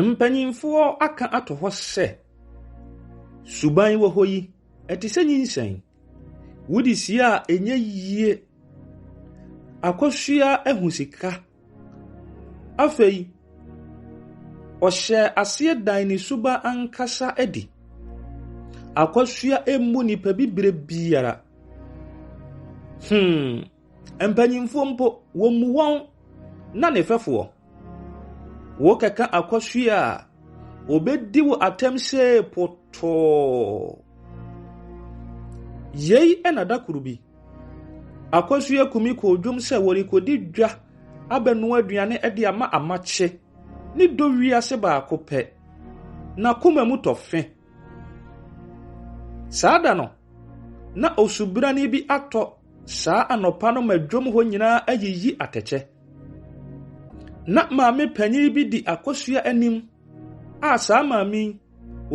Mpanyimfoɔ aka ato hɔ sɛ, suban wɔ hɔ yi, ɛte sɛ nyinsɛn. Wode sie a, ɛnyɛ yie. Akosua ahu sika. Afei, ɔhyɛɛ aseɛ dan ne suba ankasa adi. Akosua mmu nnipa bi berɛ biara. Hmm. Mpanyimfoɔ mpo, wɔmmu wɔn na ne fɛfoɔ. Wokɛka akɔhwe a, wɔbɛdi wo atɛm sɛ potɔɔ. Yei na da koro bi, akɔhwe akumi kɔɔ dwom sɛ wɔrekɔdi dwa abɛnoa aduane de ama amakye ne dɔ wiase baako pɛ. N'akoma mu tɔ fe. Saa da no, na osubrani bi atɔ Saa anɔpa no ma dwom hɔ nyinaa ayiyi atɛkyɛ. Ná maame panyin bi di akosua anim a saa maame yi,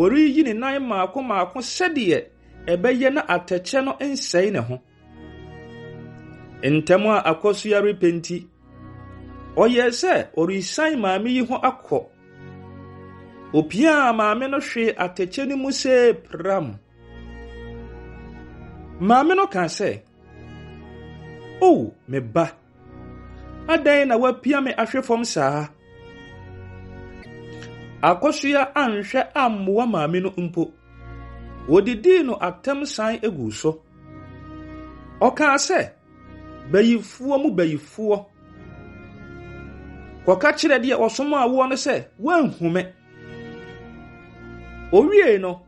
ɔreyiyi ne nan mmaako mmaako sɛdeɛ ɛbɛyɛ na atɛkyɛ no nsɛe ne ho. Ntɛm a akosua repɛ nti, ɔyɛɛ sɛ ɔresian maame yi ho akɔ. Opiaa maame no hwee atɛkyɛ no mu see pram. Maame no kaa sɛ, O me ba, adɛn na woapia me ahwe fam saa? Akosua anhwɛ ammoa maame no mpo. Wodidii no atɛm san guu so. Ɔkaa sɛ, Bayifoɔ mu bayifoɔ, kɔka kyerɛ deɛ ɔsomaa woɔ no sɛ woanhu me. Owiei no,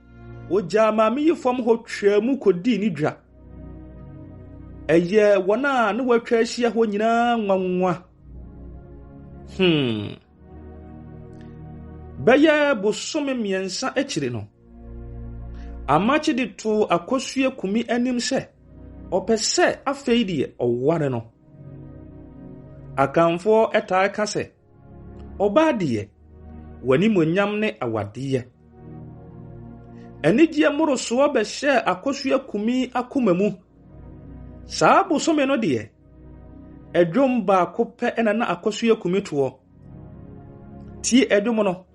ogyaa Maame yi fam hɔ twaa mu kodii ne dwa. Ɛyɛɛ wɔn a na wɔatwa ahyia hɔ nyinaa nwanwa. Hmm. Bɛyɛ bosome mmiɛnsa akyiri no, Amakye de too Akosua Kumi anim sɛ ɔpɛ sɛ afei deɛ ɔware no. Akanfoɔ taa ka sɛ, Ɔbaa deɛ, w'animuonyam ne awadeɛ. Anigyeɛ mmorosoɔ bɛhyɛɛ Akosua Kumi akoma mu. Saa bosome no deɛ, ɛdwom baako pɛ na na Akosua Kumi toɔ. Tie ɛdwom no.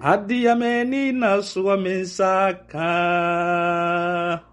Adeɛ m'ani na soɔ me nsa ka.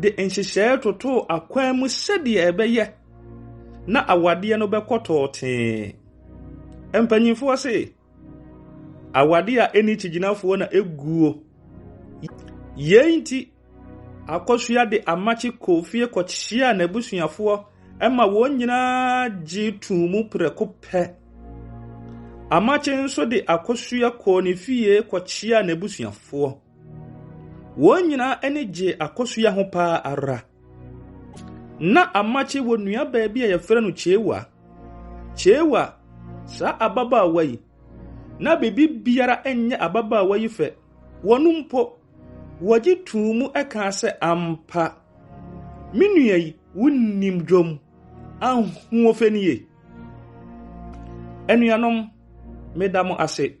de nhyehyɛe totoo akwan mu sɛdeɛ ɛbɛyɛ na awadeɛ no bɛkɔ tɔɔtee. Mpanimfoɔ se, awadeɛ a ɛni kyigyinafoɔ na ɛguo. Yei nti, akɔsua de amakye kɔɔ fie kɔkyeaa n'abusuafoɔ ma wɔn nyinaa gye too mu prɛko pɛ. Amakye nso de akɔsua kɔɔ ne fie kɔkyeaa n'abusuafoɔ. Wɔn nyinaa ani gyee akosua ho paa ara. Ná Amakye wɔ nuabaa bi a wɔfrɛ no Chewa. Chewa, saa ababaawa yi, na biribiara nyɛ ababaawa yi fɛ. Wɔn mpo, wɔgye too mu kaa sɛ, Ampa, me nua yi, wonim dwom. Ahoɔfɛ nie! Anuanom, meda mo ase.